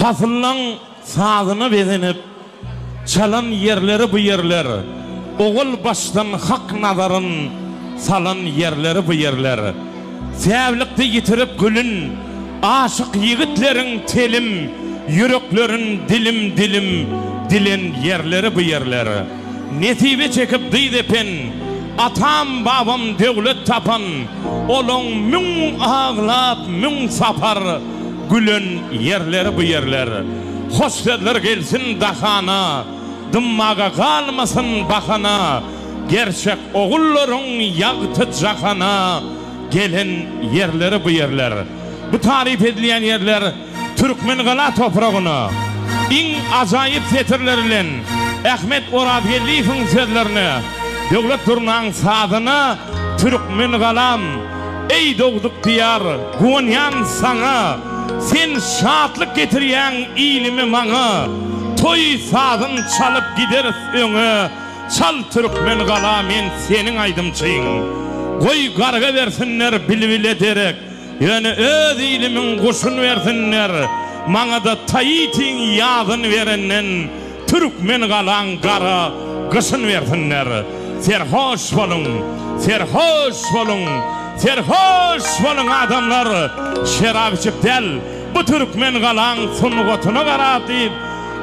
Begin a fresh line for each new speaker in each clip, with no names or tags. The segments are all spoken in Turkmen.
Pasyllaň sazyna bezenip, çalan ýerleri bu ýerler, Ogul başdan hak nazaryn salan ýerleri bu ýerler. Säwlikde ýitirip gülün, aşyk ýigitleriň telim, Ýüreklerin dilim-dilim dilen ýerleri bu ýerler. Nesibe çekip dyz epen, Atam-babam döwlet tapan, Olaň müň aglap, müň sapar, Gülen ýerleri bu ýerler. Hoş sözler gelsin dahana, Dymmaga galmasyn bahana, Gerçek ogullaryň ýagty jahana, Gelen ýerleri bu ýerler. Bu taryp edilýän ýerler. Türkmengala topragyna iň ajaýyp setirler bilen Ahmet Orazgeldiýewiň sözlerine Döwlet Durnaň sazyna Türkmengalam, eý dogduk Diýar, guwanýan saňa, Sen şatlyk getirýäň ilimi maňa, Toý sazyn çalyp gideris öňe, Çal Türkmengala men seniň aýdymçyň. Goý garga bersinler bilbile derek, Ýöne öz ilimiň guşun bersinler, maňada Taitiň ýazyn berenden türkmen galaň gara gyşyn bersinler. Serhoş boluň! Serhoş boluň! Serhoş boluň adamlar! Şerap içip däl, bu türkmen galaň sungatyna garap diýip,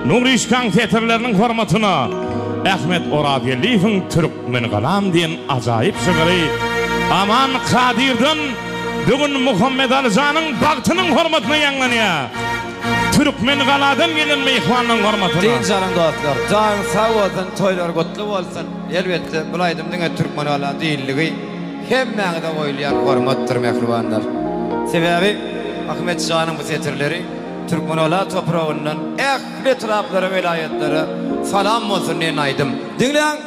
Nuryşkaň setirleriniň hormatyna Ahmet Orazgeldiýewiň türk. Men galam diýen ajaýyp şygyry Aman Kadyrdan bu gün Muhammedali janyň bagtynyň hormatyna ýaňlanýar. Türkmengaladan gelen myhmanyň hormatyna. Dynç alyň dostlar,
janyňyz sag bolsun, toýlar gutly bolsun! Elbetde, bul aýdym diňe Türkmengala diýildigi hemmäňize goýulýan hormatdyr, mähribanlar! Sebäbi Ahmet janyň bu setirleri Türkmengala topragyndan ähli etraplara, welaýatlara salam bolsun diýen aýdym. Diňläň!